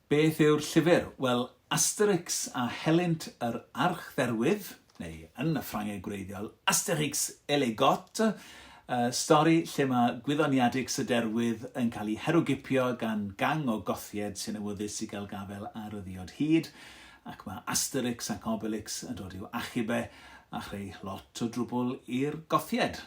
Beth yw'r llyfr? Wel, Asterix a Helynt yr Archdderwydd, neu yn y Ffrangeg gwreiddiol, Astérix et les Goths, y stori lle mae gwyddoniadix y derwydd yn cael ei herwgipio gan gang o Gothied sy'n awyddus i gael gafel ar y ddiod hud, ac mae Asterix ac Obelix yn dod i'w achub e a chreu lot o drwbl i'r Gothied.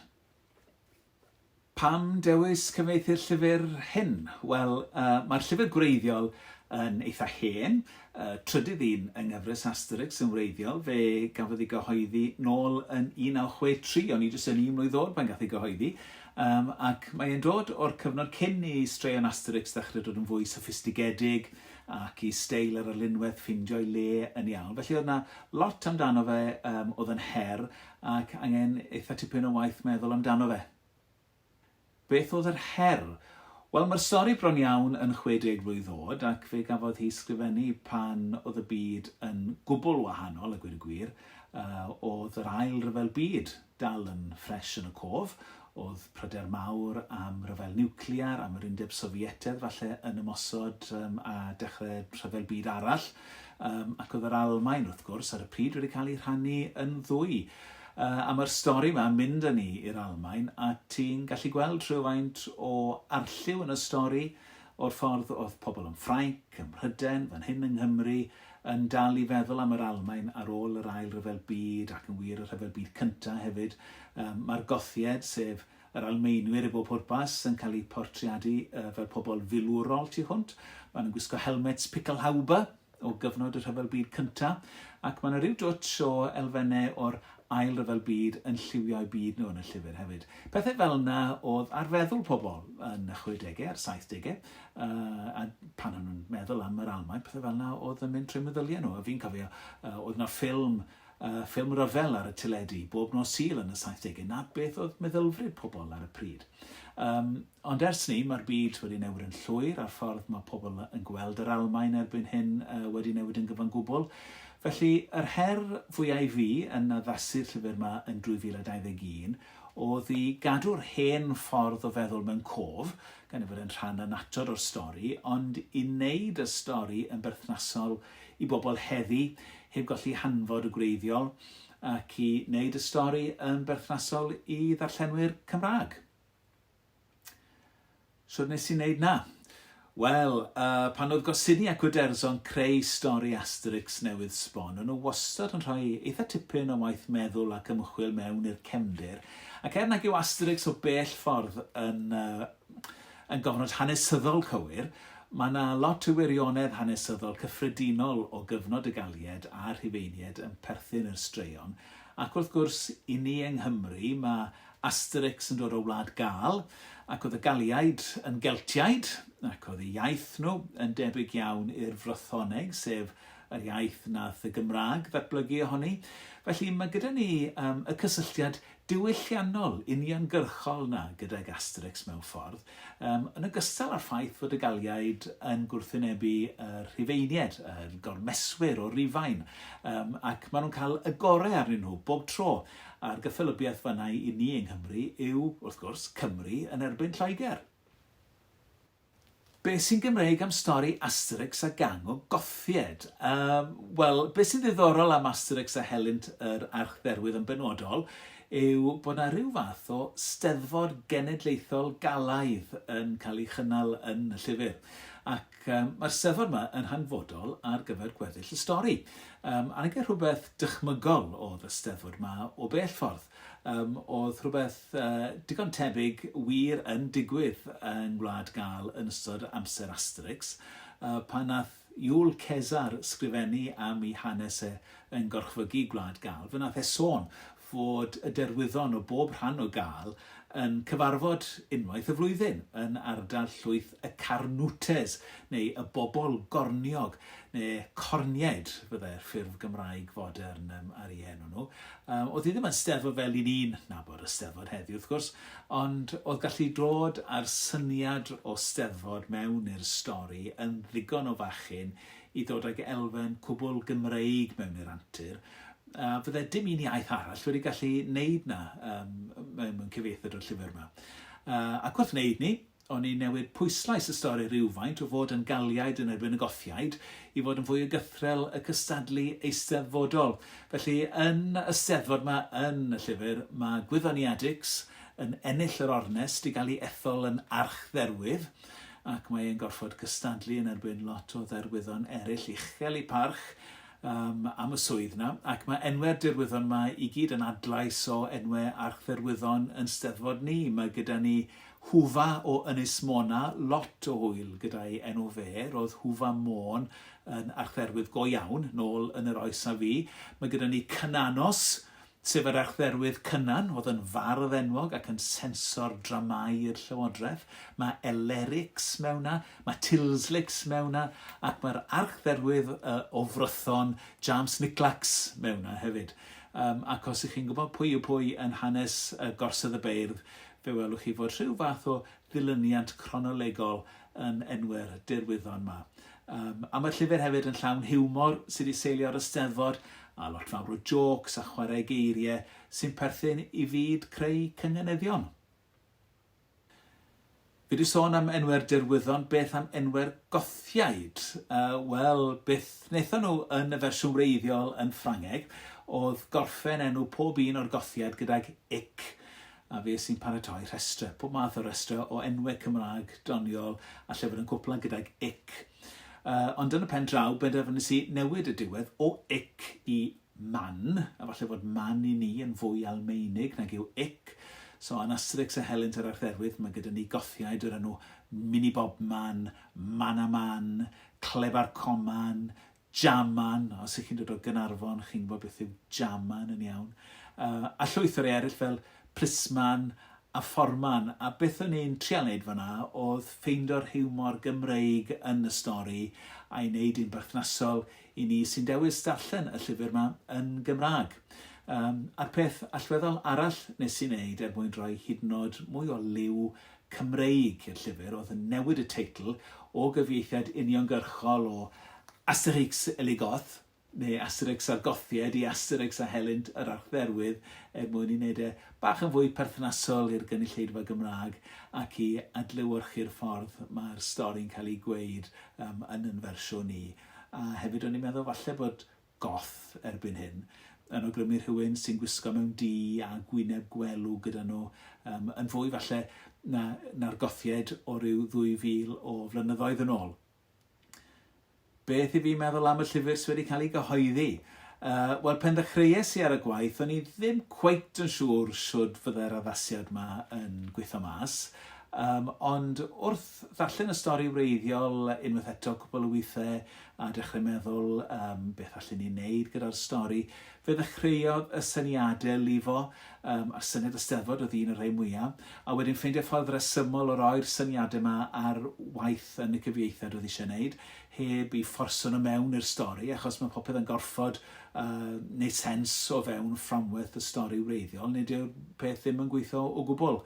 Pam dewis cyfieithu'r llyfr hyn? Wel, uh, mae'r llyfr gwreiddiol yn eitha hen, uh, trydydd un yng nghyfres Asterix yn wreiddiol, fe gafodd ei gyhoeddi nôl yn 1963, o'n i jyst yn un mlwydd oed pan gath ei gyhoeddi, um, ac mae'n dod o'r cyfnod cyn i straeon Asterix ddechrau dod yn fwy soffistigedig ac i steil yr arlunwaith ffindio'i le yn ei awl. Felly oedd yna lot amdano fe um, oedd yn her ac angen eitha tipyn o waith meddwl amdano fe. Beth oedd yr her? Wel, mae'r stori bron iawn yn 60 blwydd oed ac fe gafodd hi sgrifennu pan oedd y byd yn gwbl wahanol, a gwir y gwir, uh, oedd yr ail ryfel byd dal yn ffres yn y cof, Oedd pryder mawr am ryfel niwclear, am yr Undeb Sofietedd falle yn ymosod um, a dechrau rhyfel byd arall, um, ac oedd yr Almain, wrth gwrs, ar y pryd wedi cael ei rhannu yn ddwy. Uh, a mae'r stori yma yn mynd â ni i'r Almain, a ti'n gallu gweld rhywfaint o arlliw yn y stori, o'r ffordd oedd pobl yn Ffrainc, ym Mhryden, fan hyn yng Nghymru, yn dal i feddwl am yr Almaen ar ôl yr Ail Ryfel Byd ac yn wir y Rhyfel Byd Cyntaf hefyd. Mae'r Gothied, sef yr Almaenwyr i bob pwrpas, yn cael eu portreadu fel pobl filwrol tu hwnt. Maen nhw'n gwisgo helmets pickelhaube o gyfnod y Rhyfel Byd Cyntaf ac mae yna rhyw dwtsh o elfennau o'r Ail Ryfel Byd yn lliwio'u byd nhw yn y llyfr hefyd. Pethau fel yna oedd ar feddwl pobl yn y 60au a'r 70au. uh, a pan o'n nhw'n meddwl am yr Almaen, pethau fel yna, oedd yn mynd trwy meddyliau nhw. A fi'n cofio, uh, oedd yna ffilm, uh, ffilm ryfel ar y teledu, bob nos sil yn y 70au, na beth oedd meddylfryd pobl ar y pryd. Um, ond ers ni, mae'r byd wedi newid yn llwyr a'r ffordd mae pobl yn gweld yr Almaen erbyn hyn uh, wedi newid yn gyfan gwbl. Felly, yr her fwyaf i fi yn addasu'r llyfr yma yn 2021 oedd i gadw'r hen ffordd o feddwl mewn cof, gan ei fod yn rhan annatod o'r stori, ond i wneud y stori yn berthnasol i bobl heddi, heb golli hanfod y gwreiddiol, ac i wneud y stori yn berthnasol i ddarllenwyr Cymraeg. Sut nes i wneud na? Wel, uh, pan oedd Gosini ac Uderzo'n creu stori Asterix newydd sbon, o'n nhw wastad yn rhoi eitha tipyn o waith meddwl ac ymchwil mewn i'r cefndir, Ac er nag yw Asterix o bell ffordd yn yn gofnod hanesyddol cywir, mae yna lot o wirionedd hanesyddol cyffredinol o gyfnod y Gallied a'r Rhufeiniaid yn perthyn i'r straeon, ac wrth gwrs, i ni yng Nghymru, mae Asterix yn dod o Wlad Gâl, ac oedd y Galliaid yn Geltiaid, ac oedd eu iaith nhw yn debyg iawn i'r Frythoneg, sef yr iaith wnaeth y Gymraeg ddatblygu ohoni. Felly, mae gyda ni um, y cysylltiad diwylliannol uniongyrchol na gydag Asterix mewn ffordd, um, yn ogystal â'r ffaith fod y Galiaid yn gwrthwynebu y Rhufeinied, yr gormeswyr o Rufain, um, ac maen nhw'n cael y gorau arnyn nhw bob tro. A'r gyffelybiaeth fanau i ni yng Nghymru yw, wrth gwrs, Cymru yn erbyn Lloegr. Be sy'n Gymreig am stori Asterix a gang o Gothied? Yym, wel, be sy'n ddiddorol am Asterix a helynt yr Archdderwydd yn benodol yw bod 'na ryw fath o Steddfod Genedlaethol Galaidd yn cael ei chynnal yn y llyfr. Ac um, mae'r Steddfod yma yn hanfodol ar gyfer gweddill y stori. Um, a na rhywbeth dychmygol oedd y Steddfod yma o bell ffordd. Yym, oedd rhywbeth uh, digon tebyg wir yn digwydd yng Ngwlad Gal yn ystod amser Asterix, uh, pan nath Iwl Cesar sgrifennu am i hanes e yn gorchfygu Gwlad Gal, fe nath e sôn fod y derwyddon o bob rhan o Gal yn cyfarfod unwaith y flwyddyn yn ardal llwyth y carnwtes neu y bobl gorniog, neu corniaid fyddai'r ffurf Gymraeg fodern um, ar ei enw nhw. Um, oedd hi ddim yn steddfod fel i ni'n nabod y steddfod heddiw wrth gwrs, ond oedd gallu dod â'r syniad o steddfod mewn i'r stori yn ddigon o fachyn i ddod ag elfen cwbl Gymreig mewn i'r antur, a fydde dim un iaith arall wedi gallu wneud na um, mewn cyfeithod o'r llyfr yma. Uh, ac wrth wneud ni, O'n i newid pwyslais y stori rywfaint o fod yn Galiaid yn erbyn y Gothiaid i fod yn fwy o gythrel y cystadlu eisteddfodol. Felly, yn y Steddfod 'ma yn y llyfr, mae gwyddoniadix yn ennill yr ornest i gael ei ethol yn archdderwydd, ac mae e'n gorfod cystadlu yn erbyn lot o dderwyddon eraill uchel ei parch um, am y swydd 'na, ac mae enwe'r dirwyddon 'ma i gyd yn adlais o enwau archdderwyddon yn Steddfod ni. Mae gyda ni Hufa o Ynys Môn a lot o hwyl gyda'i enw fe. Roedd Hufa Môn yn archdderwydd go iawn nôl yn yr oes a fu. Mae gyda ni Cynanos, sef yr archdderwydd Cynan, oedd yn fardd enwog ac yn sensor dramâu i'r Llywodraeth. Mae Elerix mewn na, mae Tilslix mewn na, ac mae'r archdderwydd uh, o Frython, James Niclax, mewn na hefyd. Um, ac os ych chi'n gwybod pwy yw pwy yn hanes uh, Gorsedd y Beirdd, Fe welwch chi fod rhyw fath o ddilyniant cronolegol yn enw'r derwyddon 'ma. Yym, a ma'r llyfr hefyd yn llawn hiwmor sy 'di seilio ar y Steddfod, a lot fawr o jôcs a chwarae geirie sy'n perthyn i fyd creu cynganeddion. Fi 'di sôn am enwe'r derwyddon, beth am enwe'r Gothiaid? Uh, Wel, beth wnaethon nhw yn y fersiwn wreiddiol yn Ffrangeg oedd gorffen enw pob un o'r Gothiaid gydag ic. a fe sy'n paratoi rhestrau, pob math o restrau o enwau Cymraeg doniol a llyfr yn cwpla gydag ic. Uh, ond yn y pen draw, benderfynus i newid y diwedd o ic i man, a falle fod man i ni yn fwy Almeinig nag yw ic. So, yn Asterix a Helynt yr Archdderwydd, mae gyda ni gothiaid o'r enw Mini Bob Man, Mana Man, Clebar Coman, Jaman, os ych chi'n dod o Gaernarfon, chi'n gwybod beth yw Jaman yn iawn. Uh, a llwyth o rei eraill fel Plisman a Fforman. A beth o'n i'n trial wneud fanna oedd ffeindio'r hiwmor Gymreig yn y stori a'i wneud yn berthnasol i ni sy'n dewis darllen y llyfr yma yn Gymraeg. Um, a'r peth allweddol arall nes i'n wneud er mwyn rhoi hyd yn oed mwy o liw Cymreig i'r llyfr oedd yn newid y teitl o gyfieithiad uniongyrchol o Asterix et les Goths, neu Asterix a'r Gothiaid, i Asterix a Helynt yr Archdderwydd er mwyn ei wneud e bach yn fwy perthnasol i'r gynulleidfa Gymraeg ac i adlewyrchu'r ffordd mae'r stori'n cael ei gweud yn yn fersiwn ni. A hefyd o'n i'n meddwl falle bod Goth erbyn hyn, yn awgrymu rhywun sy'n gwisgo mewn du a gwyneb gwelw gyda nhw, um, yn fwy falle na, na'r gothiaid o ryw 2000 o flynyddoedd yn ôl. Beth i fi meddwl am y llyfr sydd wedi cael ei gyhoeddi? Uh, Wel, pen ddechreuais i ar y gwaith, o'n i ddim cweit yn siŵr siwrd fydde'r addasiad yma yn gweithio mas, Um, ond wrth ddarllen y stori wreiddiol unwaith eto cwbl o weithiau, a dechrau meddwl um, beth allen ni wneud gyda'r stori. Fe ddechreuodd y syniadau lifo, um, a syniad y steddfod oedd un o'r rhai mwyaf, a wedyn ffeindio ffordd resymol o roi'r syniadau yma ar waith yn y cyfieithiad oedd eisiau gwneud, heb i fforso nhw mewn i'r stori, achos mae popeth yn gorfod uh, wneud sens o fewn fframwerth y stori wreiddiol, nid yw'r peth ddim yn gweithio o gwbl.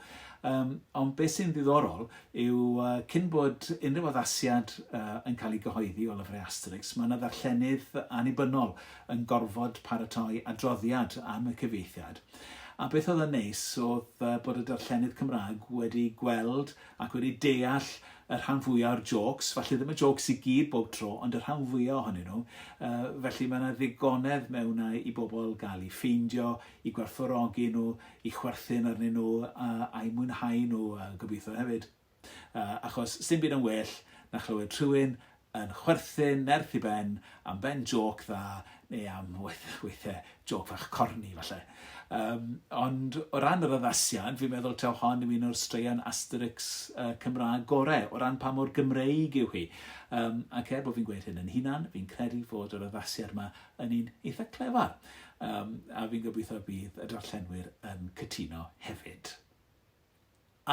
Um, ond beth sy'n ddiddorol, yw cyn bod unrhyw addasiad yn cael ei gyhoeddi o lyfrau Asterix, mae yna ddarllenydd annibynnol yn gorfod paratoi adroddiad am y cyfieithiad. A beth oedd yn neis oedd bod y darllenydd Cymraeg wedi gweld ac wedi deall y rhan fwyaf o'r jôcs, falle ddim y jôcs i gyd bob tro, ond y rhan fwyaf ohonyn nhw. felly mae yna ddigonedd mewn i bobl gael ei ffeindio, i gwerthfawrogi nhw, i chwerthin arnyn nhw a a'i mwynhau nhw a gobeithio hefyd. Uh, achos sy'n byd yn well na chlywed rhywun yn chwerthin nerth i ben am ben joc dda neu am weithiau joc fach corni falle. Um, ond o ran yr addasiad, fi'n meddwl taw hon yw un o'r straeon Asterix uh, Cymraeg gorau, o ran pa mor Gymreig yw hi. Um, ac er bod fi'n gweud hyn yn hunan, fi'n credu fod yr addasiad yma yn un eitha clefar, um, a fi'n gobeithio y bydd y darllenwyr yn cytuno hefyd.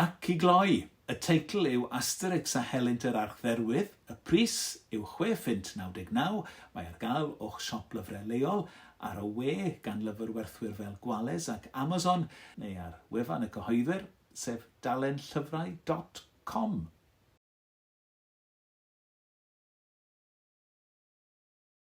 Ac i gloi, y teitl yw Asterix a Helynt yr Archdderwydd, y pris yw 6 ffint 99, mae ar gael o'ch siop lyfrau leol, ar y we gan lyfrwerthwyr fel Gwales ac Amazon, neu ar wefan y cyhoeddwyr, sef dalenllyfrau.com.